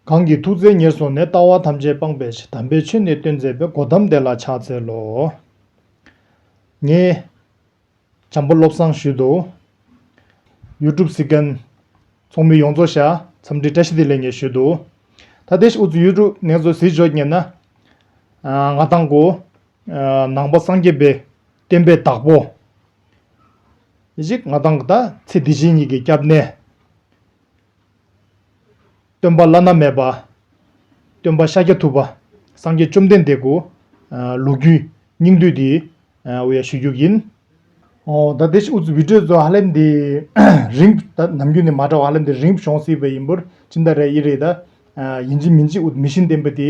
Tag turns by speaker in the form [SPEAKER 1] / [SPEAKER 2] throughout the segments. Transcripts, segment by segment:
[SPEAKER 1] གང་གི་ཐུགས་བརྩེ་ཉེར་བཟུང་ནས་ལྟ་བ་ཐམས་ཅད་སྤངས་པའི་དམ་པའི་ཆོས་ནི་སྟོན་མཛད་པའི་སྒོ་དམ་བདེ་ལ་ཕྱག་འཚལ་ལོ། ངས། བྱམས་པ་བློ་བཟང་ཞུས་དོ། YouTube Second། ཚོགས་མི་ཡོངས་རྫོགས་ཤ་ཚམ་དྲི་བཀྲ་ཤིས་བདེ་ལེགས་ངས་ཞུས་དོ། ད་ཏེ་ཨུ་ཚུགས་ཡུལ་དྲུག་ནེ་ཙོ་ཟིལ་འཇོག་ཉེས་ན། ང་དང་གོ། ནང་པ་སངས་རྒྱས་པའི་བསྟན་པའི་བདག་པོ། ཞིག་ང་དང་གདའ་ཚེ་དེ་བཞིན་ཉིད་ཀྱི་སྐྱབས་གནས། སྟོན་པ་བླ་ན་མེད་པ། སྟོན་པ་ཤཱཀྱ་ཐུབ་པ། སངས་རྒྱས་བཅོམ་ལྡན་འདས་སྐུ། ལུགས་རྒྱུད། སྙིང་བསྡུས་འདི། འོ་ཡ་ཞུ་རྒྱུ་ཡིན། ཨོ་ད་དེ་བཞིན་འུ་ཚོའི་བོད་ཁྲོད་དུ་ཧ་ལས་འདི། རིང་ད་ནམ་རྒྱུན་ནས་མ་འདྲ་བ་ཧ་ལས་འདི་རིང་བྱུང་སྲིད་པ་ཡིན་འབུར་ཅི་འདྲ་རེད་ཡིན་རེད་ད། ཡིན་གཅིག་མིན་གཅིག་འུ་མི་ཤིན་བསྟན་པ་དེ།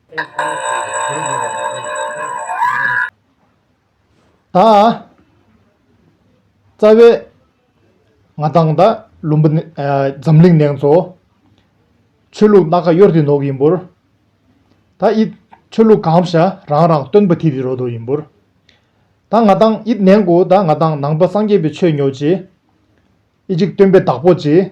[SPEAKER 1] ད་རྩ་བའི་ང་དང་ད་ལུམ་བུ་འཛམ་གླིང་ནེང་ཚོ། ཆོས་ལུགས་སྣ་ཁ་གཡོར་དེ་ནོག་ཡིན་བུར། ད་ཨིད་ཆོས་ལུགས་གང་བྱ་རང་རང་སྟོན་པ་དྷི་དི་རོ་དོ་ཡིན་བུར། ད་ང་དང་ཨིད་ནེང་གོ་ད་ང་དང་ནང་པ་སངས་རྒྱས་པའི་ཆོས་ཉོ་ཅེས། ཨིད་ཅིག་སྟོན་པའི་བདག་པོ་ཅེས།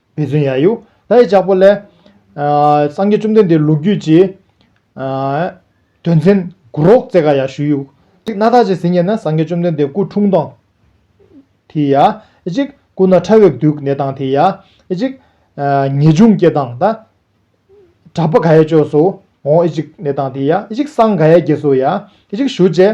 [SPEAKER 1] མི་བཙུན་ཡ་ཡུ་ད་ཡི་ལྕགས་པོ་ལས། སངས་རྒྱས་བཅོམ་ལྡན་འདས་ལུགས་རྒྱུད་ཀྱི། དོན་ཚན་དགུ་རོག་རྩེ་ཀ་ཡ་ཞུ་ཡུག། གཅིག་སྣ་ཐག་ཅེས་ཟིན་ཉེ་ན་སངས་རྒྱས་བཅོམ་ལྡན་འདས་སྐུ་འཁྲུངས་དང། དེ་ཡ། གཅིག་སྐུ་ན་ཕྲ་བའི་བདུད་གནས་དང་དེ་ཡ། གཅིག། ངེས་འབྱུང་སྐྱེ་དང་ད། གྲགས་པ་ག་ཡའི་ཅོག་སུ་འོང་ཨེ་གཅིག་གནས་དང་དེ་ཡ། གཅིག་སངས་ག་ཡའི་རྒྱལ་སུ་ཡ། གཅིག་ཞུ་བཅས།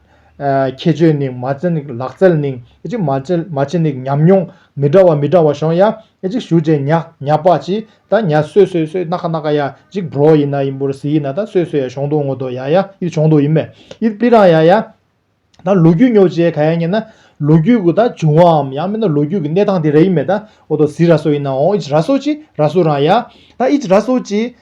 [SPEAKER 1] ཁྱད་ཆོས་ནི་མ་བྱན་ནི་ལག་རྩལ་ནི་མ་བྱན་ནི་ཉམས་མྱོང་མི་འདྲ་བ་མི་འདྲ་བ་ཤོང་ཡ་ཞུ་བྱེད་ཉག་ཉག་པ་ཅི་ད་ཉག་སོས་སོས་སོས་སྣ་ཁ་སྣ་ཁ་ཡ་ཅིག་བྲོ་ཡིན་ན་ཡིན་བུར་ཟི་ཡིན་ན་ད་སོས་སོས་ཡ་ཤོང་དོ་ངོ་དོ་ཡ་ཡ་ཡིད་ཤོང་དོ་ཡིན་མེད་ཡིད་པི་རང་ཡ་ཡ། ད་ལོ་རྒྱུས་ཉོ་བྱེད་ག་ཡ་ཉན་ན་ལོ་རྒྱུས་གུ་ད་བྱུང་བའམ་ཡང་མིན་ན་ལོ་རྒྱུས་གི་གནས་སྟངས་དེ་ར་ཡིན་མེད་ད་ཨོ་དོ་ཟི་ར་སོ་ཡིན་ན་ཨོ་ཨིད་ར་སོ་ཅི་ར་སུ་རང་ཡ་ད་ཨིད་ར་སོ་ཅི་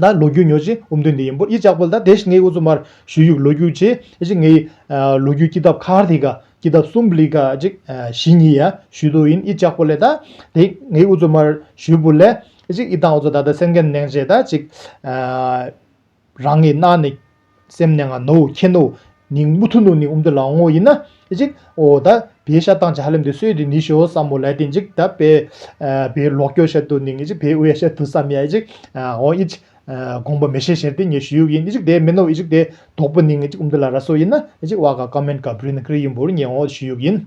[SPEAKER 1] ན་ལོ་རྒྱུས་ཉོ་ཅིང་འུམ་དོན་འདི་ཡིན་པོ་ཨི་ཅག་པོ་ལ་ད་དེ་བཞིན་ངའི་འུ་ཚོ་མར་ཞུས་ཡུག་ལོ་རྒྱུས་ཅེས་ཅིག་ངའི་ལོ་རྒྱུས་སྐྱིད་ཐབ་ཁར་དེ་ག་སྐྱིད་ཐབ་སུམ་ལི་ག་ཅིག་བཞི་གཉིས་ཡ་ཞུས་དོ་ཡིན་ཨི་ཅག་པོ་ལས་ད་དེ་ངའི་འུ་ཚོ་མར་ཞུས་པོ་ལས་ཅིག་ཨི་ཐང་འུ་ཚོ་ད་ད་སེམས་ཁན་ནེང་བྱས་ད་ཅིག་རང་གི་སྣ་ནས། སེམས་ནི་ང་ནོ་ཁྱེད་ནོ། ནི་མུ་ཐུ་ནོ་ནི་ཨུམ་ཏི་ལའང་ངོ་ཡིན། ཅིག། འོ་ད། བའི་ཤ་ཏང་ཅི་ཧ་ལེམ་དེ་སོས་དེ་ནི་ཤོ་བསམ་མོ་ལའི་དེ་འཇིག་ད། པའི། བའི་ལོག་སྐྱོ་ཤ་དུ་ནི་ཅིག་བའི་འོས་ཤ་དུ་བསམ་ཡ་ཅིག། འོ་ཨིཅིག། དགོངས་པ་མི་ཤེས་ཤེར་དེ་ངས་ཞུས་ཡུག་ཡིན་ཅིག་དེ་མིན་ནོ་ཅིག་དེ། དོག་པོ་ནི་ཅིག་ཨུམ་ཏི་ལ་ར་སོ་ཡིན། ཅིག་བ་ག་ཀ་མེན་ག་བུན་ཀྲི་ཡིན་བུར་ངས་འོ་ཞུས་ཡུག་ཡིན།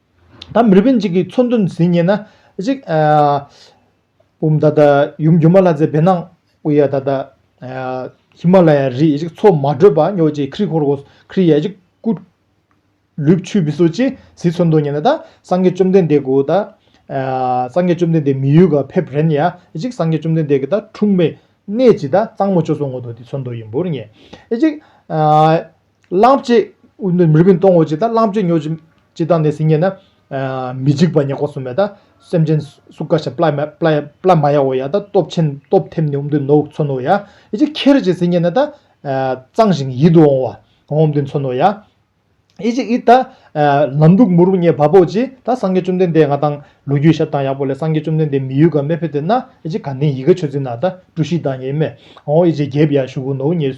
[SPEAKER 1] ད་མི་རིགས་གཅིག་གི་ཚོ་འདུ་འཛིན་ངེས་ན་གཅིག། བུམ་ད་ལྟ་ཡུམ་སྒྱུ་མ་ལྷ་རྫས་བེར་ནག་དབུ་ཡ་ད་ལྟ། ཧི་མ་ལ་ཡ་རི་གཅིག་ཚོ་མ་བགྲོད་པ་སྨྱོ་བྱེད་ཁྲི་ཧོར་གོ་ཁྲི་ཡ་གཅིག་སྐུ། ལུས་ཆུད་བི་སོ་ཅི་ཟི་ཚོ་འདུ་ངེས་ན་ད་སངས་རྒྱས་བཅོམ་ལྡན་འདས་གུ་ད། སངས་རྒྱས་བཅོམ་ལྡན་འདས་མི་ཡུལ་ག་ཕེབས་རན་ཡ་གཅིག་སངས་རྒྱས་བཅོམ་ལྡན་འདས་གི་ད་འཁྲུངས་མའི་གནས་ཀྱི་ད་གཙང་མོ་ཅོ་སོ་ངོ་ཏོ་དེ་ཚོ་འདུ་ཡིན་འབུར་ངེས་གཅིག། བླང་བྱའི་མི་རིགས་མི་སྟོང་བ་ཅིག་དང་བླང་བྱའི་མྱོས་བྱེད་ཅིག་དང་ནི་སིལ་སྙན་ནི། མི་འཇིགས་པ་ཉེ་འཁོར་སུ་མེད་དང་སེམས་ཅན་སུ་ཀ་ཞིང་པླ་མ་ཡའོ་ཡང་དང་སྟོབས་ཆེན་སྟོབས་ཐེམས་ནི་འོམ་དུ་ནོ་མཚོན་ནོ་ཡང་ཡེ་ཅིག་ཁྱེར་བྱའི་སིལ་སྙན་ནི་དང། གཙང་ཞིང་ཡིད་དུ་འོང་བ་འོམ་དུ་མཚོན་ནོ་ཡང་ཡེ་ཅིག་ཨི་དང། ལམ་དྲུག་མུ་རུ་ངེས་བ་པོ་ཅིག་དང་སངས་རྒྱས་བཅོམ་ལྡན་འདས་ང་དང་ལུ་གུའི་ཞབས་དང་ཡག་པོ་ལས་སངས་རྒྱས་བཅོམ་ལྡན་འདས་མི་ཡུལ་ག་མེ་ཕེ་དེ་ན་ཡེ་ཅིག་ག་ནི་ཡི་གེ་ཆོས་འཛིན་ན་དང་གྲུ་བཞི་དང་ཡེ་མེ་འོང་ཡེ་ཅིག་རྒྱས་པ་ཡང་བཞུགས་ནོ་ངེས།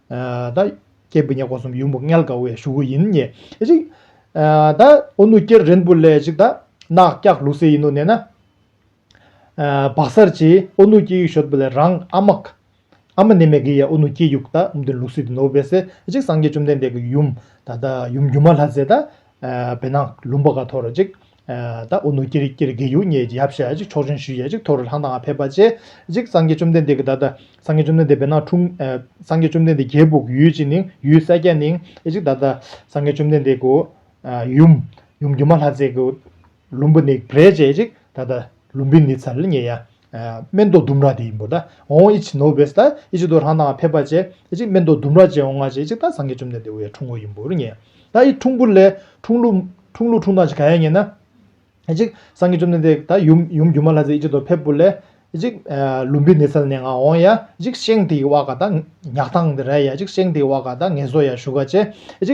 [SPEAKER 1] ད་སྐྱེས་བུ་ཉེ་འཁོར་གསུམ་ཡུམ་བུ་མངལ་དགའ་བའི་ཞུགས་ཡིན་ཉེ། ཅིག། ད་ཨོ་ནུ་སྐྱེར་རེན་བུ་ལས་ཅིག་ད། ནག་སྐྱག་ལུག་སེ་ཡིན་ནོ་ནས་ན། བག་སར་གྱིས་ཨོ་ནུ་སྐྱེས་ཡུག་ཞོད་བུ་ལས་རང་ཨ་མ། ཨ་མ་ནེ་མེ་གི་ཡ་ཨོ་ནུ་སྐྱེས་ཡུག་ད་འདི་ལུག་སེ་དེ་ནོ་བས་སེ་ཅིག་སངས་རྒྱས་བཅོམ་ལྡན་འདས་ཀྱི་ཡུམ། ད་ཡུམ་སྒྱུ་མ་ལྷ་རྫས་ད། བེ་ནག་ལུམ་པ་ག་ཐོ་ར་ཅིག། ད་ཨོ་ནུ་ཀིར་ཀིར་གི་ཡུལ་ངས་ཡབ་ཞལ་གཅིག་ཕྱོགས་ཆེན་ཞུས་ཡས་གཅིག་ཐོ་རུ་ལྷང་དང་ཕེབས་པ་བཅས་གཅིག་སངས་རྒྱས་བཅོམ་ལྡན་འདས་ཀྱི་ད་ད་སངས་རྒྱས་བཅོམ་ལྡན་འདས་བེར་ནག་འཁྲུངས། སངས་རྒྱས་བཅོམ་ལྡན་འདས་རྒྱལ་སྦུག་ཡུལ་གཅིག་ནིང་ཡུལ་སེར་སྐྱ་ནིང་གཅིག་ད་ད་སངས་རྒྱས་བཅོམ་ལྡན་འདས་ཀུ་ཡུམ་ཡུམ་སྒྱུ་མ་ལྷ་རྫས་ཀུ་ལུམ་བུ་ནིག་བྲེ་བཅས་གཅིག་ད་ད་ལུམ་བི་ནི་ཚལ་ངས་ཡ་སྨན་དོ་ལྡུམ་ར་དེ་ཡིན་པོ་ད་ཨོང་ཨི་ཆི་ནོ་བེས་ད་ཨི་ཆི་དོ་རང་དང་ཕེབས་པ་ཅེ་ཨི་ཆི་སྨན་དོ་ལྡུམ་ར་ཅེ་ཨོང་ཨ་ཅེ་ཨི་ཆི་ད་སངས་རྒྱས་བཅོམ་ལྡན་འདས་འོ་ཡ་འཁྲུངས་གོ་ཡིན་པོ་རུ་ངེས་ད་ཨི་འཁྲུངས་པོ་ལས་འཁྲུངས་ལུགས་འཁྲུངས་ལུགས་འཁྲུངས་སྟངས་ཅི་ག་ཡ་ངེས་ན་ཨི་ཆི་སངས་རྒྱས་བཅོམ་ལྡན་འདས་ད་ཡུམ་ཡུམ་རྒྱུ་མ་ལ་ཙེ་ཨི་ཆི་དོ་ཕེབས་པོ་ལས་ཨི་ཆི་ལུམ་བི་ནི་སལ་ནས་ང་ཨོང་ཡ་ཨི་ཆི་ཤེང་དེ་ཡི་བྷ་ག་ད་ཉག་ཐང་དེ་ར་ཡ་ཨི་ཆི་ཤེང་དེ་ཡི་བྷ་ག་ད་ངེས་སོ་ཡ་བཞུགས་ག་ཅེ་ཨི་ཆི་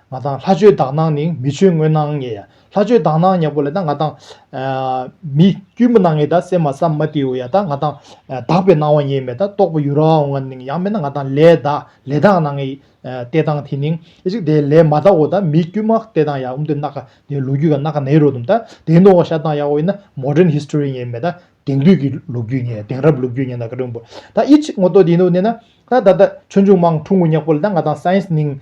[SPEAKER 1] ང་དང་ལྷ་ཆོས་དག་སྣང་ནིང་མི་ཆོས་དངོས་སྣང་ངེ། ལྷ་ཆོས་དག་སྣང་ཉག་པོ་ལས་ད་ང་དང། མི་དཀྱུས་མ་སྣང་ངེ་ད་སེམས་མ་སམ་མ་ཏི་ཨུ་ཡ་ད་ང་དང། དག་པའི་སྣང་བ་ངེས་མེད་ད་རྟོགས་པ་ཡུ་ར་ཨོ་ང་ནིང་ཡང་མེད་ན་ང་དང་ལས་ད་ལས་དག་སྣང་ངེ། ཏེ་དང་དེ་ནིང་ཨེ་ཅིག་དེ་ལས་མ་ད་ཨོ་ད་མི་དཀྱུས་མ་ཏེ་དང་ཡ་འུམ་དེ་ནག་ག་དེ་ལུག་རྒྱུད་ག་ནག་ག་ནའི་རོ་དུམ་ད་དེ་ནོ་ཤ་དང་ཡ་ཨོ་ཡིན་ན Modern History ངེས་མེད་ད་དེང་དུས་ཀྱི་ལུག་རྒྱུད་ངེ་དེང་རབས་ལུག་རྒྱུད་ངེ་ད་ཀ་དྲུང་པོ་ད་ཨེ་ཅིག་ངོ་ཏོ་དེ་ནོ་ནེ་ན་ད་ད་ད་ཆོས་འབྱུང་མང་འཁྲུངས་ངོ་ཉག་པོ་ལས་ད་ང་དང Science ནིང་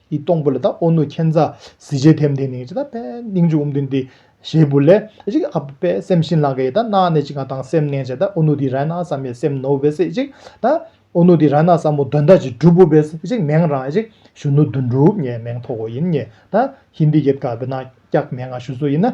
[SPEAKER 1] ཡི་སྟོང་པོ་ལ་དང་ཨོ་ནུ་ཁྱེད་མཛའ། གཟི་བརྗིད་ཐེམ་ཐེམ་ནི་ཅི་དང་པེ། སྙིང་རྗེ་འུམ་དུ་འདི་ཞེས་བུ་ལས། ཅིག་ཨ་པེ་སེམས་ཤིན་ལང་ཀ་ཡི་དང་སྣང་ནས་ཅིག་ང་དང་སེམས་གནས་བྱེད་དང་ཨོ་ནུ་དི་ར་ན་ས་མའི་སེམས་ནོ་བེ་སེ་ཅིག་དང། ཨོ་ནུ་དི་ར་ན་ས་མོ་དོན་དག་ཅིག་འགྲུབ་བོ་བེ་སེ་ཅིག་མེང་རང་ཅིག་ཞུ་ནུ་དུ་འགྲུབ་ངས་མེང་ཐོག་གོ་ཡིན་ངས་དང་ཧིན་དི་ཡེད་ག་བེ་ན་སྐྱག་མེང་ང་ཞུ་སུ་ཡིན་ན།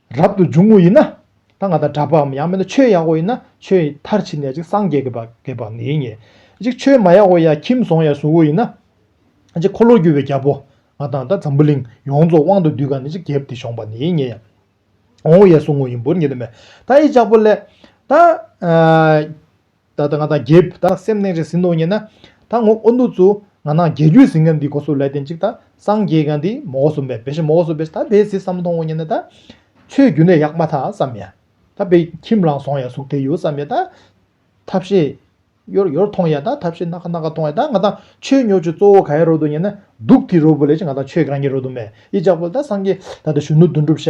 [SPEAKER 1] རབ་ཏུ་འབྱུང་ངོ་ཡིན་ན། ད་ང་དང་འདྲ་པའམ་ཡང་མིན་ན་ཆོས་ཡག་བོ་ཡིན་ན་ཆོས་མཐར་ཕྱིན་ནས་ཅིག་སངས་རྒྱས་ཀྱི་བགེགས་པ་ངེས་ངེས། ཅིག་ཆོས་མ་ཡག་བོ་ཡང་ཁྱིམ་བཟང་ཡང་བཟུང་བོ་ཡིན་ན། ཅིག་འཁོར་ལོ་རྒྱུ་བའི་རྒྱལ་པོ་ང་དང་ད་འཛམ་བུ་གླིང་ཡོངས་རྫོགས་དབང་དུ་སྡུས་ག་ནས་ཅིག་རྒྱལ་དེ་བྱུང་བ་ངེས་ངེས། འོང་བོ་ཡང་བཟུང་ངོ་ཡིན་བོར་ངེས་ལས་མེད། ད་ཡིད་ཅག་པོ་ལས། ད། ད་ལྟ་ང་དང་རྒྱའི་བུ་དག་སེམས་གནས་རེ་ཟིན་འདུག་ཉེ་ན་ད་ངོ་ཨོ་ནུ་ཙུ་ང་ནང་རྒྱལ་རྒྱུད་ཟིན་ག་འདི་གོ་སུ་ལས་དེ་འཇིག་ད་སངས་རྒྱས་ག་འདི་མོ་གོ་སུ་འབེ་བེ་ཤི་མོ་གོ་སུ་བེ་ཤི་ད་བེ་ཟི་བསམ་མཐོང་ངོ་ཉེ་ན་ད་ཆོས་རྒྱུད་ནས་ཡག་མ་ཐག་བསམ་ཡ་ད་བེ་ཁྱིམ་ལང་སོང་ཡ་གཟུགས་དེ་ཡོ་བསམ་ཡ་ད་ཐབས་ཤེས་ཡོར་ཡོར་མཐོང་ཡ་ད་ཐབས་ཤེས་སྣ་ཁ་སྣ་ཁ་མཐོང་ཡ་ད་ང་དང་ཆོས་ཉོ་ཆུ་གཙོ་བོ་ག་ཡ་རོ་འདུག་ཉེ་ན་སྡུག་དེ་རོ་བུ་ལས་ཅི་ང་དང་ཆོས་ག་རང་གི་རོ་འདུག་མེ་ཡི་ལྕགས་ཕོ་ད་སངས་རྒྱས་ད་ད་གཞོན་ནུ་དོན་འགྲུབ་ཤ་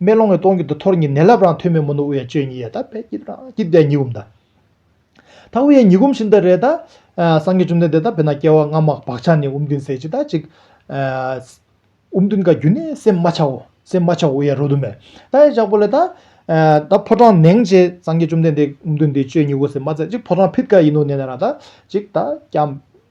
[SPEAKER 1] མེ་ལོང་བའི་སྟོང་གི་དུ་ཐོར་གཉིས་ནད་རླབས་རང་ཐོད་མེ་མུན་དུ་དབུ་ཡ་གཅོད་གཉིས་ཡལ་དག་པས་སྐྱིབས་རང་སྐྱིབས་བརྒྱ་ཉིས་འགུམ་དང། ད་དབུ་ཡ་ཉིས་འགུམ་བཞིན་དུ་རེ་ད། སངས་རྒྱས་བཅོམ་ལྡན་འདས་དང་བས་ན་སྐྱེ་བ་སྔ་མ་བག་ཆགས་ནི་དབུ་མདུན་ཟད་ཅིག་དང་གཅིག། དབུ་མདུན་ཀ་རྒྱུ་ནི་སེམས་རྨ་བྱའོ། སེམས་རྨ་བྱ་དབུ་ཡ་རོ་དུ་མས་ད་ཡི་ལྗགས་པོ་ལས་ད། ད་ཕོ་བྲང་ནེང་བྱས་སངས་རྒྱས་བཅོམ་ལྡན་འདས་དབུ་མདུན་འདི་གཅོད་གཉིས་དབུ་སེམས་རྨ་ཟད་ཅིག་ཕོ་བྲང་ཕིད་ཀ་ཡིན་ནོ་ནེ་ན་ར་ད་གཅིག་ད་སྐྱམ།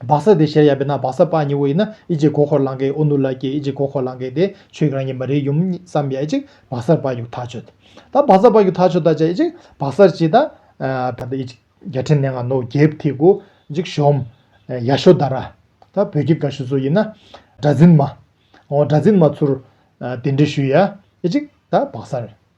[SPEAKER 1] སྦག་ས་དེ་གཞལ་ཡས་པས་ན་སྦག་ས་སྤ་སྙི་བོ་ཡིན་ན་ཨི་ཇི་གོ་ཁོར་ལང་གེ་ཨོ་ནུ་ལ་ཀྱེ་ཨི་ཇི་གོ་ཁོར་ལང་གེ་དེ་ཆོས་ཀྱི་རང་ཉིད་མ་རིག་ཡུམ་བསམ་ཡས་ཨི་ཇི་སྦག་སར་སྤ་གྱུག་ཐག་ཆོད་དོ། ད་སྦག་སར་སྤ་གྱུག་ཐག་ཆོད་ད་ཅི་ཨི་ཇི་སྦག་སར་ཅི་ད། ད་ཨི་ཇི་རྒྱལ་ཕྲན་ནེ་ང་ནོ་རྒྱལ་ཐི་གུ་ཨི་ཇི་ཤོམ། ཡ་ཤོ་དར་ར། ད་བོད་ཀྱི་ག་ཤུ་ཚུ་ཡིན་ན། དགྲ་འཛིན་མ། ཨོ་དགྲ་འཛིན་མ་ཚུར། དེ་འདྲི་ཞུ་ཡ་ཨི་ཇི་ད་སྦག་སར།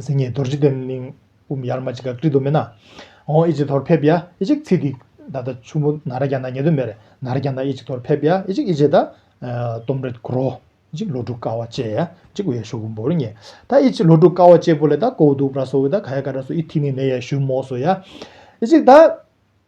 [SPEAKER 1] སིང་ངེ་རྡོར་འཇིག་རྟེན་གླིང། དབུ་མ་ཡར་མ་ཅི་ག་ཀྲི་དུ་མེ་ན། འོང་ཨེ་ཅིག་དོར་ཕེབས་ཡ་ཨེ་ཅིག་ཚིག་འདི། ད་ལྟ་ཆུ་བོ་ན་ར་གྱ་ན་ཉེ་དུ་མེར། ན་ར་གྱ་ན་ཨེ་ཅིག་དོར་ཕེབས་ཡ་ཨེ་ཅིག་ཨེ་ཅེ་ད། སྟོམ་རེ་དཀུ་རོ། ཨེ་ཅིག་ལོ་དྲུག་ཀ་བ་བཅས་ཡ་ཨེ་ཅིག་བའི་ཤོག་བུ་འབོར་ཉེ། ད་ཨེ་ཅིག་ལོ་དྲུག་ཀ་བ་བཅས་པོ་ལེ་ད་ཀོ་བུ་དུག་པྲ་སོ་བུ་ད་ག་ཡ་ཀ་ཏྲ་སོ་ཨི་ཐིག་ནི་ནེ་ཡ་ཞུ་མོ་སོ་ཡ། ཨེ་ཅིག་ད།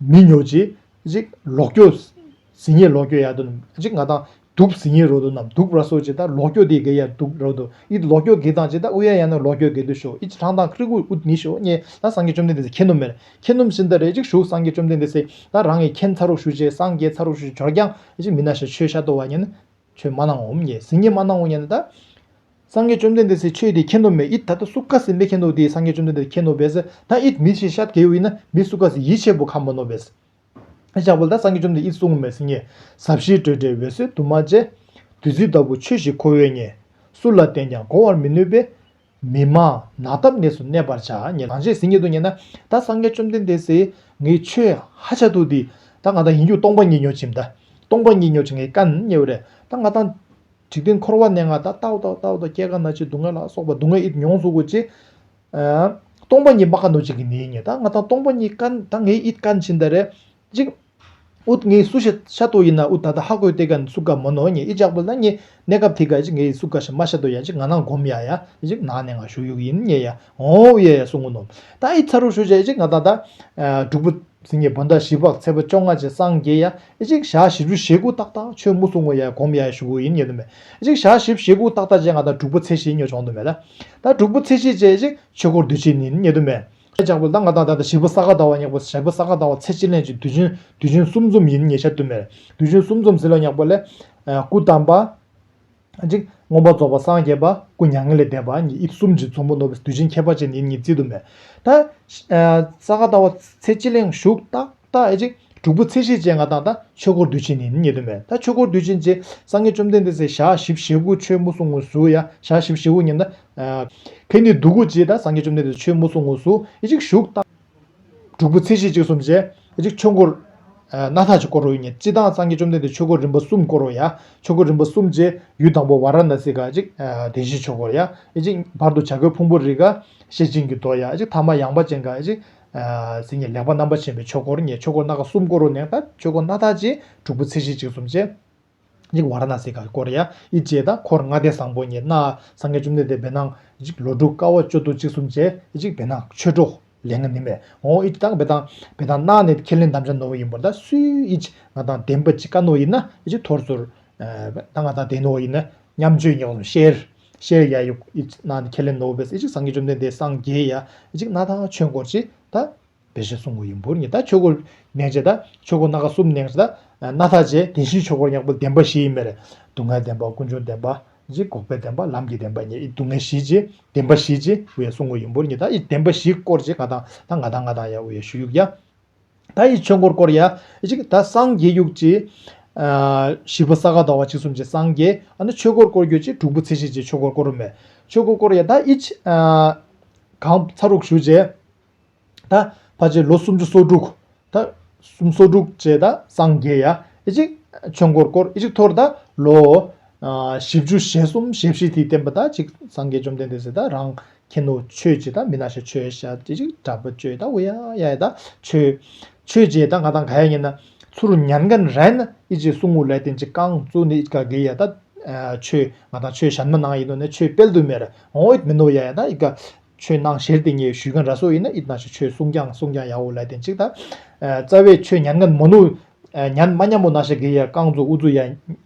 [SPEAKER 1] མི་ཉོ་རྗེས་གཅིག་ལོག་སྐྱོ། ཟི་ཉེ་ལོག་སྐྱོ་ཡ་དུ་གཅིག་ང་དང་དུག་ཟི་ཉེ་རོ་དུ་ནམ་དུག་ར་སོ་ཅི་ད་ལོག་སྐྱོ་དེ་གེ་ཡ་དུག་རོ་དུ་ཨི་ལོག་སྐྱོ་གེ་དང་ཅི་ད་ཨུ་ཡ་ཡ་ནུ་ལོག་སྐྱོ་གེ་དུ་ཤོ་ཨི་ཅི་ཁྲང་དང་ཁྲི་ཀུ་ཨུ་ནི་ཤོ་ཉེ་ད་སངས་རྒྱས་བཅོམ་ལྡན་འདས་ཟེ་ཁྱེད་ནུ་མེར་ཁྱེད་ནུམ་ཤིན་ད་རེ་གཅིག་ཞུགས་སངས་རྒྱས་བཅོམ་ལྡན་འདས་ཟེ་ད་རང་ངེ་ཁྱེད་ཚ་རུག་ཤུ་ཅེ་སངས་རྒྱས་ཚ་རུག་ཤུ་ཇོ་ར་རྒྱང་ཨི་ཅི་མི་ན་ཤ་ཆོས་ཤ་དོ་བ་ཉེ་ནི་ཆོས་མ་གནང་ངོམ་ངས་སིང་ངས་མ་གནང་ངོ་ངས་ན་ད། སངས་རྒྱས་བཅོམ་ལྡན་འདས་སའི་ཆོས་དེ་མཁྱེན་ནོ་མེད་ཨིད་ད་ད་སུ་ཀ་སིས་མེད་མཁྱེན་ནོ་དེས་སངས་རྒྱས་བཅོམ་ལྡན་འདས་མཁྱེན་ནོ་བས་ན་ཨིད་མི་ཤེས་ཤ་དེའི་དབུས་ན་མི་སུ་ཀ་སིས་ཡིད་ཆེས་པོ་ཁ་མོ་ནོ་བས། ཨེ་ཤ་བོ་ད་སངས་རྒྱས་བཅོམ་ལྡན་འདས་ཨིད་སུ་ངོ་མས་སིང་ངས་ཟབ་ཞིའི་སྤྲོས་བྲལ་འོད་གསལ་དུ་མ་བཅས། བདུད་རྩི་ལྟ་བུ་ཆོས་ཞིག་ཁོ་བོས་ངས། སུ་ལ་བསྟན་ཀྱང་གོ་བར་མི་ནུས་པས། མི་དམངས་ནགས་འདབས་གནས་སུ་གནས་པར་བྱ། ཉེ་རང་བྱས་ཟིན་ཉེ་དུ་ཉེ་ན། ད་སངས་རྒྱས་བཅོམ་ལྡན་འདས་ཟེ། ངའི་ཆོས་ཧ་ཅང་སྡུག་འདི། ད་ང་དང་ཡིན་རྒྱུ་སྟོང་པ་ཉིད་ཉོ་ཅིམ་ད། སྟོང་པ་ཉིད་ཉོ་ཅིག་ངའི་བཀའ་ནི་རྙེད་བོ་རེ། ད་ང་དང། འཇིག་རྟེན་འཁོར་བ་གནས་ང་ད། ལྟ་བོ་ལྟ་བོ་ལྟ་བོ་ལྟ་བོ་སྐྱེ་རྒ་ན་འཆི་སྡུག་བསྔལ་ལ་སོགས་པ་སྡུག་བསྔལ་ཨི་མྱོང་གཟུགས་གོ་ཅི། སྟོང་པ་ཉིད་མ་ག་ནོ་ཅིག་གི་ནི་ཉེ། ད་ང་དང་སྟོང་པ་ཉིད་བཀའ། ད་ངའི་ཨི་བཀའ་ནི་ཅི་ད་རེ། གཅིག། ཨུཏྤལ་ངའི་སུ་ཤ་ཤ་ཏོ་ཡིན་ན་ཨུཏྤལ་ད་ལྟ་ཧ་གོས་ཏེ་ག་ནས་སུ་ག་མོ་ནོ་ངས་ཨི་ཅག་པོ་ལ་ངས་གནས་སྐབས་དེ་ག་ཨི་ཅིག་ངའི་སུ་ག་ཤ་མ་ཤ་ཏོ་ཡ་ཅིག་ང་ནང་སྒོམ་ཡ་ཡ་ཨི་ཅིག་ནང་ནས་ང་བཞུགས་ཡུག་ཡིན་ངས་ཡ་འོང་ཨུ་ཡ་ཡ་སུ་ངུ་ནོ་ད་ཨི་ཚ་རུ་ཤུ་ཤ་ཨི་ཅིག་ང་ད་ད། དྲུག་པོ། སིང་ངེ་བོ་ད་བཞི་བག་ཚེ་བ་བཅོ་ལྔ་བྱེད་སངས་རྒྱས་ཡ་ཨི་ཅིག་ཞག་བཞི་བཅུ་ཞེ་དགུ་ཏག་ཏག་ཆོས་མུ་སུ་ངོ་ཡ་ཡ་སྒོམ་ཡ་ཡ་བཞུགས་ཨུ་ཡིན་ངས་དུ་མེད་ཨི་ཅིག་ཞག་བཞི་ཞེ་དགུ་ཏག་ཏག་བྱས་ང་ད་དྲུག་པོ་ཚེ་བཞི་ཉོ་ཆོང་དུ་མེད་ད་དྲུག་པོ་ཚེ་བཞི་བྱས་ཨི་ཅིག་ཆོས་འཁོར་དུས་ཆེན་ནིན་ངས་དུ་མེད། ཁྱེད་ཅག་པོ་ལ་ང་དང་ད་ལྟ་བཞི་པོ་ས་ག་ཟླ་བ་སྙེག་པོ་བཞི་པོ་ས་ག་ཟླ་བ་ཚེས་གཅིག་ལན་གཅིག་དུས་ཆེན་དུས་ཆེན་གསུམ་འཛོམས་ཡིན་ཉེ་ཆར་དུ་མེར་དུས་ཆེན་གསུམ་འཛོམས་ཟིན་ལ་སྙེག་པོ་ལས། སྐུ་བལྟམས་པ། གཅིག། སྔོན་པོ་རྫོགས་པ་སངས་རྒྱས་པ་སྐུ་མྱ་ངན་ལས་འདས་པ་གཉིས་དབྱིབས་གསུམ་གྱི་འཛོམས་པོ་ནོར་བུ་དུས་ཆེན་ཁྱད་པར་ཅན་ཡིན་ཉིན་བརྩི་དུ་མེད། ད། ས་ག་ཟླ་བ་ཚེས་གཅིག་ལན་བཞུགས་རྟགས། རྟགས་ཨེ་ཅིག། དྲུག་པོ་ཚེ་ཤེས་བྱའི་མངའ་ཐང་དང་ཆོས་འཁོར་དུས་ཆེན་ནི་ནི་དོན་མེད་ད་ཆོས་འཁོར་དུས་ཆེན་རྗེ་སངས་རྒྱས་བཅོམ་ལྡན་འདས་ཚེས་ཞག་བཞི་བཞི་དགུ་ཆོས་དམུ་སྲུང་དངོས་སུ་ཡ་ཞག་བཞི་བཞི་དགུ་ཉིན་ན། ཁེ་ནི་སྡུག་གུ་རྗེས་ད་སངས་རྒྱས་བཅོམ་ལྡན་འདས་ཆོས་དམུ་སྲུང་དངོས་སུ་ཨེ་ཅིག་བཞུགས། རྟགས། དྲུག་པོ་ཚེ་ཤེས་གཅིག་གསུམ་བཅས་ཨེ་ཅིག་ཆོས་འཁོར། སྣ་ཐག་ཅིག་སྐོར་རོ་ཉིན་གཅིག་ད་སངས་རྒྱས་བཅོམ་ལྡན་འདས་ཆོས་འཁོར་རིམ་པ་གསུམ་སྐོར་རོ་ཡ་ཆོས་འཁོར་རིམ་པ་གསུམ་བཅས་ཡུལ་དང་པོ་བ་ར་ན་སི་ཀ་ཨེ་ཅིག་བདེན་བཞིའི་ཆོས་འཁོར་ཡ་ཨེ་ཅིག་བར་དུ་བྱ་རྒོད་ཕུང་པོ་རི་ཀ་ཤེས་སྦྱིན་གྱི་མདོ་ཡ་ཨེ་ཅིག་ཐ་མ་ཡངས་པ་ཅན་ཀ་ཨེ་ཅིག། ཚེ་ངས་ལེགས་པ་རྣམ་པར་བྱིན་པའི་ཆོས་འཁོར་ངས་ཆོས་འཁོར་སྣ་ཁ་གསུམ་བསྐོར་རོ་ནེག་ད་ཆོས་འཁོར་སྣ་དག་ཅིང་དྲུག་པོ་ཚེ་བཞི་གཅིག་གསུམ་ཅན། གཉིས་ཀ་བ་ར་ན་སི་ཀར་བསྐོར་ཡ་ཨི་བཅས་ད་འཁོར་ལྔ་སྡེ་བཟང་པོ་ངས་སྣ་སང་ངས་བཅུ་མདའི་སྡེ་བེར་སྣང། ལོ་དྲུག་ཀ་བ་བཅུ་དུ་གཅིག་གསུམ་ཅན་གཅིག་བེར་སྣང་ཆོས་གྲོགས་ལས་ངས་ནི་མེད་འོང་ཨི་ད་བེར་སྣང་བེར་སྣང་སྣ་ནི་ཁས་ལེན་དམ་བཅའ་ནོར་བུ་ཡིན་པོ་ད་སུའི་ཨི་ང་དང་ལྡན་པ་གཅིག་ཀ་ནོ་ཡིན་ན་ཨི་ཐོར་ཚུར། ད་ང་དང་ལྡན་ནོ་ཡིན་ན་མཉམ་སྤྱོད་ཉེ་བར་ཤེས། ཤེར་ཡ་ཡུག་ཨི་ཇིག་ན་ཁེ་ལེ་ནོ་བེས་ཨི་ཇིག་སངས་རྒྱས་བཅོམ་ལྡན་འདས་སངས་རྒྱས་ཡ་ཨི་ཇིག་ན་དང་ཆོས་འཁོར་ཅི་ད་བེ་ཞེས་གསུང་ངོ་ཡིན་འབུར་ཉི་ད་ཆོས་འཁོར་ནན་ཅེ་ད་ཆོས་འཁོར་སྣ་ཁ་གསུམ་ནན་ཅེ་ད་སྣ་ཐག་ཅེ་དེ་བཞིའི་ཆོས་འཁོར་ཡངས་པོ་བདེན་པ་བཞི་ཡི་མེར་སྡུག་བསྔལ་བདེན་པ་ཀུན་འབྱུང་བདེན་པ་ཨི་ཇིག་འགོག་པའི་བདེན་པ་ལམ་གྱི་བདེན་པ་ཉིད་ཨི་སྡུག་བསྔལ་བཞི་ཅེ་བདེན་པ་བཞི་ཅེས་འུ་ཡ་གསུང་ངོ་ཡིན་འབུར་ཉི་ད་ཨི་བདེན་པ་བཞི་སྐོར་ཅེ་ང་དང་ད་ང་དང་ང་དང་ཡ་འུ་ཡ་ཞུ་ཡུག་ཡ་ད་ཡི་ཆོས་འཁོར་བསྐོར་ཡ། ད་སངས་རྒྱས་དབྱུག་ཅེས། བཞི་པོ་ས་ག་ཟླ་བ་གཅིག་གསུམ་གྱིས་སངས་རྒྱས། ཨ་ནི་ཆོས་འཁོར་བསྐོར་གྱུར་ཅིག་དྲུག་པོ་ཚེ་ཤེས་ཀྱིས་ཆོས་འཁོར་བསྐོར་རུ་མེད། ཆོས་འཁོར་བསྐོར་ཡ་ད་ཡི། གང་ཚར་དྲུག་ཞུ་བྱས། ད་བར་ཆད་ལོ་སུམ་ཅུ་སོ་དྲུག། ད་སུམ་སོ་དྲུག་བྱས་ད་སངས་རྒྱས་ཡ། ཆོས་འཁོར་བསྐོར་ཅིག་འཐོར་ད་ལོ། བཞི་བཅུ་ཞེ་གསུམ་ཞེ་བཞི་དེའི་བསྟན་པ་ད་ཅིག་སངས་རྒྱས་བཅོམ་ལྡན་འདས་ཟེར་ད་རང། ཁྱེད་ནུ་ཆོས་བྱེད་ད་མི་ན་ཤ་ཆོས་ཤ་ཅི་ཅིག་དྲ་འབུ་བཅོས་ད་འུ་ཡ་ཡ་ད་ཆོས་ཆོས་བྱེད་ད་ང་དང་ག་ཡ་ཉན་ན་ཚུ་རུ་ཉན་གན་རན་ཨི་ཅི་སུ་ངུ་ལེ་ཏན་ཅི་ཀང་ཙུ་ནི་ཨི་ཀ་གི་ཡ་ད་ཆོས་ང་དང་ཆོས་ཞན་མ་ནང་ཡིན་ནོ་ནས་ཆོས་པེལ་དུ་མེ་ར་འོང་འུད་མི་ནོ་ཡ་ཡ་ད་ཨི་ཀ་ཆོས་ནང་ཞེར་ཏི་ཉེ་ཞུས་གན་ར་སོ་ཡིན་ན་ཨི་ན་ཤ་ཆོས་སུང་ཀྱང་སུང་ཀྱང་ཡ་འུ་ལེ་ཏན་ཅིག་ད་རྩ་བས་ཆོས་ཉན་གན་མོ་ནུ་ཉན་མ་ཉན་མོ་ན་ཤ་གི་ཡ་ཀང་ཙུ་འུ་ཙུ་ཡ།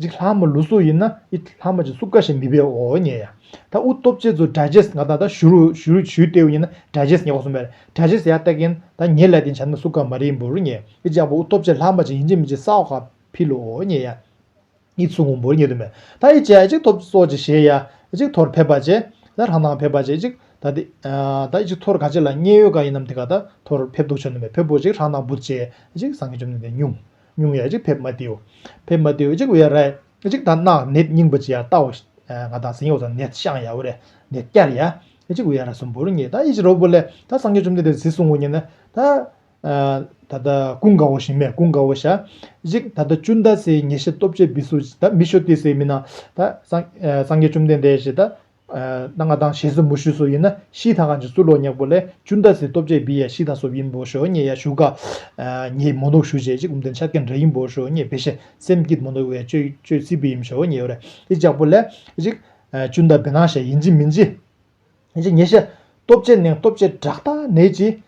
[SPEAKER 1] རིགས་ལྷག་མ་ལུས་སྲོག་ཡིན་ན་ཨི་ལྷག་མ་ཅིག་སུ་ཀ་ཞིག་མི་བས་འོ་ཉེ་ཡ། ད་ཨུ་སྟོབས་རྗེ་ཚོ་དགྲ་རྗེས་ང་དང་ད་ཞུ་རུ་ཞུ་ལྟེའུ་གཉིས་ན་དགྲ་རྗེས་ཉེ་བ་སུ་མེར་དགྲ་རྗེས་ཡ་ལྟ་གིན་ད་ཉེ་ལས་དེ་བྱ་ན་སུ་ཀ་མ་རིག་འབུར་ཉེ་ཨི་ལྕགས་པོ་ཨུ་སྟོབས་རྗེ་ལྷག་མ་ཅིག་ཡིན་ཅིག་མིན་ཅིག་ས་འོག་ཁ་འཕིལ་ལོ་འོ་ཉེ་ཡ། ཨི་ཚུགས་ངུ་འབུར་ཉེ་དུ་མེད་ད་ཨི་ཅེ་ཨི་ཅིག་ཐོབ་སྲོག་ཅིག་བཞེས་ཡ་ཨི་ཅིག་ཐོར་ཕེབས་པ་ཅེ་ད་རང་དང་ཕེབས་པ་ཅེ་ཨི་ཅིག་ད་དེ་ད་ཨི་ཅིག་ཐོར་ག་ཅིག་ལ་མཉན་ཡོད་ག་ཡིན་ནམ་དེ་ག་ད་ཐོར་ཕེབས་འདུག་བྱོན་དུ་མེད་ཕེབས་པོ་ཅིག་རང་དང་འབུར་ཅེ་ཨི་ཅིག་སངས་རྒྱས་བཅོམ་ལྡན་འདས་སྙུང། སྙུང་ཡ་གཅིག་ཕེབས་མ་དེའོ། ཕེབས་མ་དེའོ་གཅིག་བའི་རས་གཅིག་དང་སྣ་ནད་སྙིང་པོ་ཅི་ཡང་བཏག་འོ། ང་དང་སེང་གེ་བ་དང་ནད་ཤང་ཡའོ་རས་ནད་བསྐྱར་ཡ་གཅིག་བའི་རས་གསུམ་པོར་ངེས་ད་ཡིད་ཅི་རོ་བོ་ལས་ད་སངས་རྒྱས་བཅོམ་ལྡན་འདས་ཟིས་གསུང་ངོ་ཉེ་ན། ད། ད་ལྟ་ཀུན་དགའ་བོ་ཞིང་མས་ཀུན་དགའ་བོ་ཞག་གཅིག་ད་ལྟ་བཅུ་ཟླ་སའི་ཉེ་ཤེས་སྟོབས་ཆེ་བི་སུ་ད་མི་ཤོ་ཏི་སའི་མི་ན། ད་སངས་རྒྱས་བཅོམ་ལྡན་འདས་ཞེས་ད་རྣ་ང་དང་ཞེས་སོ་མུ་ཤུ་སོ་ཡིན་ན་ཤི་ད་གང་ཅི་སུ་ལོ་ཉག་པོ་ལས་ཅུན་ད་སི་སྟོབས་ཆེ་བི་ཡ་ཤི་ད་སོ་བིན་པོ་ཤོ་ཉེ་ཡ་ཤུ་ག་ཉེ་མོ་ནོག་ཤུ་ཆེ་ཅི་ཀུམ་དན་ཆ་ཀན་ར་ཡིན་པོ་ཤོ་ཉེ་བི་ཤེ་སེམས་སྐྱིད་མོ་ནོག་བའི་ཅོད་སི་བི་ཡིན་ཤོ་ཉེ་ཡོ་རེ་ཨི་ཅག་པོ་ལས་ཨི་ཅུན་ད་བི་ན་ཤ་ཡིན་ཅི་མིན་ཅི་ཉེ་ཤ་སྟོབས་ཆེ་ནེང་སྟོབས་ཆེ་བྲག་ད་ནེ་ཅི་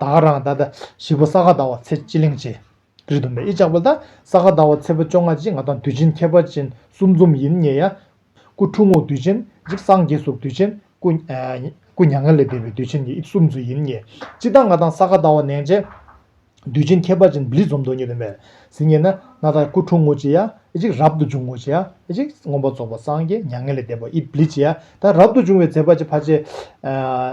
[SPEAKER 1] བདག་རང་ད་ལྟ་བཞི་པོ་ས་ག་ཟླ་བ་ཚེས་སྤྱི་གླིང་བྱེད་རེ་འདུག་མེད་ཨི་ཅག་པོ་ད་ས་ག་ཟླ་བ་ཚེས་པོ་བཅོ་ལྔ་གཅིག་ང་དང་དུས་ཆེན་ཁྱད་པར་ཅན་གསུམ་འཛོམས་ཡིན་ངེས་ཡ། སྐུ་ཁྲུ་ངོགས་དུས་ཆེན་གཅིག་སངས་རྒྱས་སོགས་དུས་ཆེན་སྐུ་མྱ་ངན་ལས་འདས་པའི་དུས་ཆེན་གཉིས་གསུམ་ཚུན་ཡིན་ངེས་སྤྱི་ལྟར་ང་དང་ས་ག་ཟླ་བ་ནན་བྱེད་དུས་ཆེན་ཁྱད་པར་ཅན་བརླིས་འཛོམས་འདོད་ངེས་དུ་མེད་ཟིན་ངེས་ན་ན་ད་སྐུ་ཁྲུ་ངོ་གཅིག་ཡ། གཅིག་རབ་ཏུ་འབྱུང་ངོ་ཅེ། གཅིག་མངོན་པར་རྫོགས་པར་སངས་རྒྱས་མྱ་ངན་ལས་འདས་པ་ཨི་བླི་ཅེ། ད་རབ་ཏུ་འབྱུང་བའི་ཚེ་ཕ་ཆེ་ཕ་ཆེ།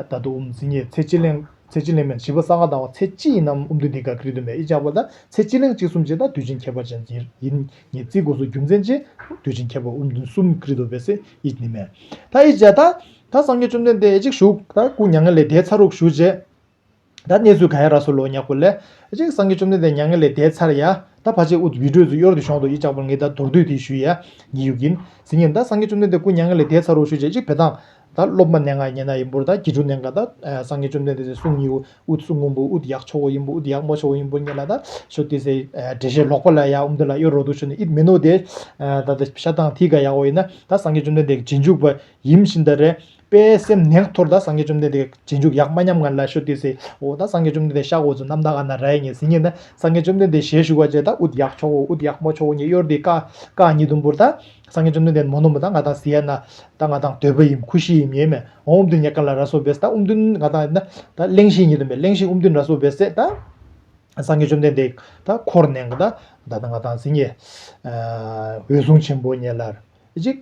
[SPEAKER 1] ད་དུ་འུམ་ཙི་ཉེ་ཚེ་ཅི་གླེང་ཚེ་ཅི་གླེང་མན་བྱིས་པ་ས་ག་དང་བ་ཚེ་སྤྱི་ཡིན་ནམ་འུམ་དུ་འདི་ག་ཀིར་དུ་མས་ཨི་བཅག་པ་ད་ཚེ་ཅི་གླེང་གཅིག་གསུམ་བྱེད་ད་དུས་ཆེན་ཁྱད་པར་ཅན་ཅི་ཡིན་ཉེ་ཚིག་སྒོ་སུ་རྒྱུ་མཚན་ཅི་དུས་ཆེན་ཁྱད་པར་འུམ་དུ་གསུམ་ཀིར་དུ་བས་ཚེ་ཨི་ནི་མན། ད་ཨི་བྱ། ད་སངས་རྒྱས་བཅོམ་ལྡན་འདས་ཨི་གཅིག་བཞུགས། ད་སྐུ་མྱ་ངན་ལས་འདས་ཚར་རུག་བཞུགས་ཅེ། ད་གནས་ཚུལ་ག་ཡ་ར་སོ་ལོ་ཉག་པོ་ལས། ཅིག་སངས་རྒྱས་བཅོམ་ལྡན་འདས་མྱ་ངན་ལས་འདས་ཚར་ཡ། ད་བར་ཆད་ཨུཏྤལ་བྲོས་སུ་གཡོར་དུ་ཤོང་དུ་ཡིད་ཅག་པོར་ངེད་ད་མདོར་བསྡུས་དེ་ཞུས་ཡ། ཉི་ཡུག་ཡིན། ཟིན་ཡིན་ད་སངས་རྒྱས་བཅོམ་ལྡན་འདས་སྐུ་མྱ་ངན་ལས་འདས་ཚར་རོ་ཞུས་རྗེས་ཅིག་བེ་དང། ད་སློབ་མ་ནད་ང་ཉེ་ན་ཡིན་པོར་ད་དགེ་ཕྲུག་ནད་འགའ་ད། སངས་རྒྱས་བཅོམ་ལྡན་འདས་ཚེ་གཟུངས་ཉི་ཨུཏྤལ་གཟུངས་སྔོན་པོ་ཨུཏྤལ་ཡག་ཆོག་བོ་ཡིན་པོ་ཨུཏྤལ་ཡག་མ་ཆོག་བོ་ཡིན་པོ་ངེད་ལ་ད། ཞོ་ཏི་སེ། འབྲས་ཤེལ་ལོག་པ་ལ་ཡ་ཨུམ་དེ་ལ་གཡོར་རོགས་འདུག་ཞུས་ནས་ཨིད་མི་ནོ་དེ། ད། ཤ་ཐང་ཐིག་ག་ཡག་བོ་ཡིན་ན་ད་སངས་རྒྱས་བཅོམ་ལྡན་འདས་ཀྱི་རྗེས་འཇུག་པ། ཡིམ་ཤིན་ད་རེ། དཔལ་སེམས་ནད་འཐོར་ད་སངས་རྒྱས་བཅོམ་ལྡན་འདས་རྗེས་འཇུག་ཡག་མ་ཉམས་ངར་ལ་ཤོ་ཏི་སེ་འོ་ད་སངས་རྒྱས་བཅོམ་ལྡན་འདས་ཤག་འོ་ཛུ་ནམ་ད་ཨ་ན་ར་ཡེ་ཉེ་སི་ཉེ་ད་སངས་རྒྱས་བཅོམ་ལྡན་འདས་ཞལ་བཞུགས་བ་ཅད་ད་ཨུཏ་ཡག་ཆོག་འོ་ཨུཏ་ཡག་མོ་ཆོག་འོ་ཉེ་གཡོར་དེ་ཀ་ཀ་ཉི་དུམ་བུར་ད་སངས་རྒྱས་བཅོམ་ལྡན་འདས་མོ་ནོ་མོ་ད་ང་དང་སི་ཡ་ན་ད་ང་དང་དོད་པ་ཡིམ་ཁུ་ཤི་ཡིམ་ཡེ་མེ་འོང་ཨུམ་དུན་ཉེ་ཀ་ལ་ར་སོ་བེ་སི་ད་ཨུམ་དུན་ང་དང་ན་ད་གླེང་ཤི་ཉི་དུམ་བེ་གླེང་ཤི་ཨུམ་དུན་ར་སོ་བེ་སེ་ད་སངས་རྒྱས་བཅོམ་ལྡན་འདས་ད་འཁོར་ནེང་ག་ད་ད་ད་ང་དང་སི་ཉེ་འོད་སྲུང་ཆེན་པོ་ཉེ་ལར་ཅིག་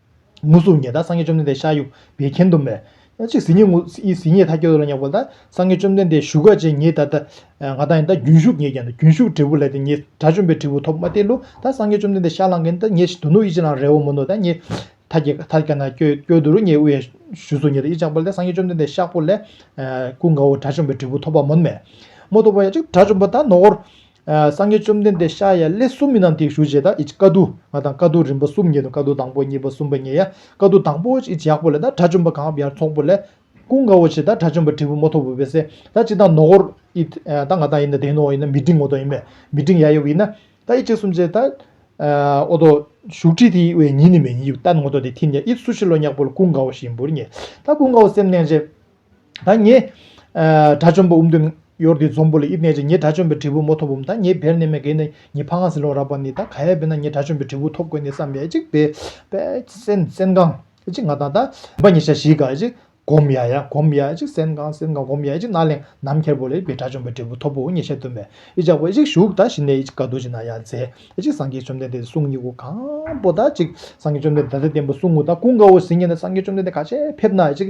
[SPEAKER 1] ངུ་གཟུགས་ཉི་ཟླ་སངས་རྒྱས་བཅོམ་ལྡན་འདས་ཤཱ་ཡུ་བའི་མཁྱེན་དུ་མས། གཅིག་ཟིན་ཉི་ངུ་ཡི་ཟིན་ཉི་ཐ་ཁྱོད་ལ་ཉོག་པ་ལ་སངས་རྒྱས་བཅོམ་ལྡན་འདས་བཞུགས་སྒར་ཅན་ཉིད་ད་ད་ང་དང་ད་རྒྱུན་ཞུགས་ངེས་ཀྱང་ད་རྒྱུན་ཞུགས་འབྲས་བུ་ལས་ད་ངེས་དགྲ་བཅོམ་པའི་འབྲས་བུ་ཐོབ་མ་སྟེ་ལོ་ད་སངས་རྒྱས་བཅོམ་ལྡན་འདས་ཤ་ལངས་ཀྱིན་ད་ངེས་ཞིག་དུ་ནུ་ཡི་ཅི་ལང་རེ་བ་མུ་ནུ་ད་ངེས་ཐ་ཁྱེད་ཐ་ཁྱེད་ན་ཁྱོད་ཁྱོད་དུ་རུ་ངེས་དབུ་ཡ་བཞུ་གཟུགས་ཉི་ཟླ་ཡི་ལྗང་པོ་ལས་སངས་རྒྱས་བཅོམ་ལྡན་འདས་ཤ་ཕོ་ལས། ཀུན་དགའ་བོ་དགྲ་བཅོམ་པའི་འབྲས་བུ་ཐོབ་པ་མུ་ནུ་མས། མོ་ཏོ་བ་ཡ་གཅིག་དགྲ་བཅོམ་པ་ད་ནོ་གོར། སངས་རྒྱས་བཅོམ་ལྡན་འདས་ཤཱ་ཡ་ལས་སུ་མི་རྣམས་དེ་ཞུ་བྱེད་དདེ་ཀ་ཏུ་མ་དང་ཀ་ཏུ་རིམ་པ་གསུམ་ཉེ་དུ་ཀ་ཏུ་དང་པོ་གཉིས་པ་གསུམ་པ་ཉེ་ཡ་ཀ་ཏུ་དང་པོ་ཅིག་ཡག་པོ་ལས་དགྲ་བཅོམ་པ་གང་བ་ཡར་ཚོགས་པོ་ལས། ཀུན་དགའ་བོ་ཆེ་དགྲ་བཅོམ་པ་དྲིལ་བུ་མོ་ཐོར་བུ་བས་སད་ད་ཅི་དང་ནོ་གོར་ཨི་ད་ང་དང་ཡིན་ད་དེ་ནོ་ཡིན་ན་མི་འབྲིང་ངོ་ཏོ་ཡིན་མེད་མི་འབྲིང་ཡ་ཡོ་བི་ཡིན་ན་ད་ཨི་གཅིག་གསུམ་བྱེད་ད་ཨོ་ཏོ་བཞུགས་ཁྲི་དེ་བས་ཉིན་ནི་མེད་ཉིན་ཡིབ་ད་ནོ་ཏོ་དེ་ཐིན་ཡ་ཨི་སུ་ཤི་ལོ་ཉག་པོ་ལ་ཀུན་དགའ་བོ་ཞིག་ཡིན་བུར་ངེས་ད་ཀུན་དགའ་བོ་སེམས་གནས་རྗེ། ད་ངེད་དགྲ་བཅོམ་པ་འུམ་དུས་གཡོར་དེའི་འཛོམས་པོ་ལ་དབྱིབས་གནས་ཅན་ངེད་དགྲ་བཅོམ་པའི་དྲིལ་བུ་མོ་ཐོབ་བོ་ད་ངེད་བེར་གནས་མེད་གེ་ནི་ངེད་ཕ་ང་ཟི་ལོང་རག་པ་ནི་ད་ག་ཡ་བེར་ན་ངེད་དགྲ་བཅོམ་པའི་དྲིལ་བུ་ཐོབ་དགོས་ནི་བསམ་ཡ་ཅིག་བེ་བེ་སེན་སེན་གང་ཅིག་ང་དང་ད་བེ་ཉེ་ཆ་ཞིག་ག་ཅིག་གོམ་ཡ་ཡ་གོམ་ཡ་ཅིག་སེན་གང་སེན་གང་གོམ་ཡ་ཅིག་ན་ལེང་ནམ་འཁྱེར་བོ་ལ་ཡིད་བེ་དགྲ་བཅོམ་པའི་དྲིལ་བུ་ཐོབ་བོ་ཉེ་ཆ་སྟོན་པས་ཡིད་ཅག་པོ་ཅིག་བཞུགས་ད་ཞི་ནས་ཡིད་ཅིག་ག་དུ་ཅིག་ན་ཡ་མཛེས་ཅིག་སངས་རྒྱས་བཅོམ་ལྡན་འདས་དེ་གསུང་གཉིས་ཀུན་གང་པོ་ད་ཅིག་སངས་རྒྱས་བཅོམ་ལྡན་འདས་ད་ལྟ་བསྟན་པ་གསུང་ངོ་ད་ཀུན་དགའ་བོ་ཟིན་ངེ་ན་སངས་རྒྱས་བཅོམ་ལྡན་འདས་ག་ཆད་ཕེབས་ན་ཡ་ཅིག་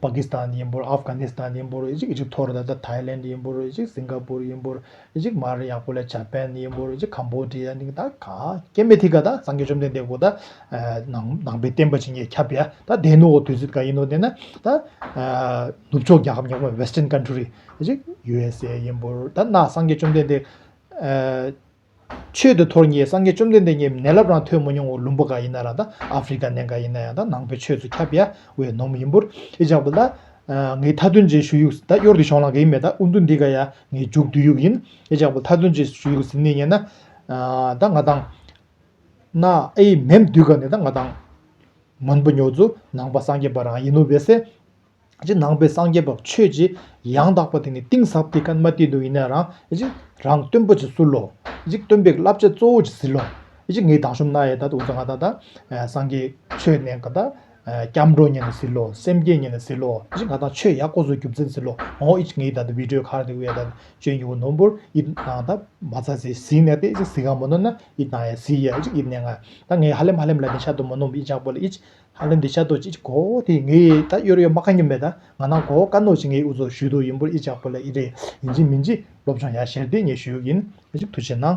[SPEAKER 1] པ་ཀི་སི་ཐན་ཡིན་པོར་ཨབ་གྷ་ནི་སི་ཐན་ཡིན་པོར་ཨི་ཇིབ་ཨི་ཇིབ་ཐོར་ད་ད་ཐའི་ལན་དི་ཡིན་པོར་ཨི་ཇིབ་སིང་ག་པུར་ཡིན་པོར་ཨི་ཇིབ་མ་རི་ཡག་པོ་ལས་ཇཱ་པན་ནི་ཡིན་པོར་ཨི་ཇིབ་ཁམ་བོ་དི་ཡ་ནི་གི་ད་ག་ཀེ་མེ་ཐི་ག་ད་སངས་རྒྱས་བཅོམ་ལྡན་འདས་སྐུ་ད་ནང་ནང་པའི་བསྟན་པ་བྱིན་གྱིས་ཁྱབ་པའི་ད་སྡེ་སྣོད་འོག་དུས་ཚོད་ག་ཡིན་ནོ་དེ་ན་ད་ནུབ་ཕྱོགས་རྒྱལ་ཁབ་ཉག་མ Western Country ཨི་ཇིབ USA ཡིན་པོར་ད་ནང་སངས་རྒྱས་བཅོམ་ལྡན་འདས་ཆོས་འདི་ཐོག་ངས་སངས་རྒྱས་བཅོམ་ལྡན་འདས་ཉིད་མནལ་ལབ་རང་ཐོས་མ་མྱོང་བའི་བླུན་པོ་ག་ཡིན་ན་རང་ད་ཨ་ཕི་རི་ཀ་ནས་འགའ་ཡིན་ན་ཡང་ད་ནང་པའི་ཆོས་ཚོ་ཁྱབ་ཡ་བའི་ནོམ་ཡིན་པོར་ཨི་ཅག་པོ་ད་ངའི་མཐའ་དོན་ཅན་ཞུ་ཡུག་ད་གཡོར་དེ་ཤོང་ལང་ག་ཡིན་མེད་ད་ཨུ་འདུ་འདི་ག་ཡ་ངའི་རྒྱུགས་བསྡུས་ཡུག་ཡིན་ཨི་ཅག་པོ་མཐའ་དོན་ཅན་ཞུ་ཡུག་ཟིན་ནས་ཉན་ན་ད་ང་དང་ན་ཨི་མེམ་འདུས་ག་ནས་ད་ང་དང་མོན་པོ་ཉོ་ཚོ་ནང་པ་སངས་རྒྱས་པ་རང་ཡིན་ནོ་བས་སེ། ཀྱི་ནང་པའི་སངས་རྒྱས་པ་ཆོས་ཀྱི་ཡང་དག་པ་དེ་ནི་གཏིང་ཟབ་དེ་ཀརྨ་སྟེ་དུ་ཡིན་ན་རང། རང་སྟོན་པོ་ཆེ་གསུར་ལོ། སྟོན་པའི་བསླབ་བྱ་གཙོ་བོ་ཆེ་ཟིལ་ལོ། ངའི་དག་ཞུམ་ན་ཡེ་ད་དུ་འུ་ཚོ་ང་ད་ད། སངས་རྒྱས་ཆོས་གནས་ཀ་ད། སྐྱབས་འགྲོ་ཉན་ན་ཟིལ་ལོ་སེམས་བསྐྱེད་ཉན་ན་ཟིལ་ལོ། ང་ད་ཆོས་ཡག་པོ་བཟོ་རྒྱུ་མཚན་ཟིལ་ལོ། ངའི་ད་དུ་བི་དྲོའི་ཁར་དེ་འུ་ཡ་ད་སྤྱོད་མྱུ་གུ་ནོམ་པོར་ཡི་ན་ད། མ་ཚ་ཚེ་ཟིལ་ནས་ཏེ་ཟིལ་གང་མོ་ནོ་ན་ཡི་ད་ཡ་ཟིལ་ཡ་ཡི་ནས་ང། ད་ངའི་ཧ་ལེམ་ཧ་ལེམ་ལ་ནི་ཤ་དུ་མོ་ནོམ་ཡི་ཇག་པོ་ལ་ཡི། ཧ་ལན་དེ་ཤ་རྡོག་ཅིག་གོ་དེ་ངའི་ད་གཡོར་གཡོར་མ་ག་ཉི་མེད་ད་ང་ནང་གོ་ཀ་ནོག་ཅིག་ངའི་འུ་ཚོ་ཞུས་དོ་ཡིན་པོ་ཨི་ཅག་པོ་ལ་ཨི་རེད་ཡིན་ཅིག་མིན་ཅིག་སློབ་སྦྱོང་ཡག་ཞེར་དེ་ངས་ཞུས་ཡིན་ཨ་ཅིག་ཐུགས་ཆེ་གནང།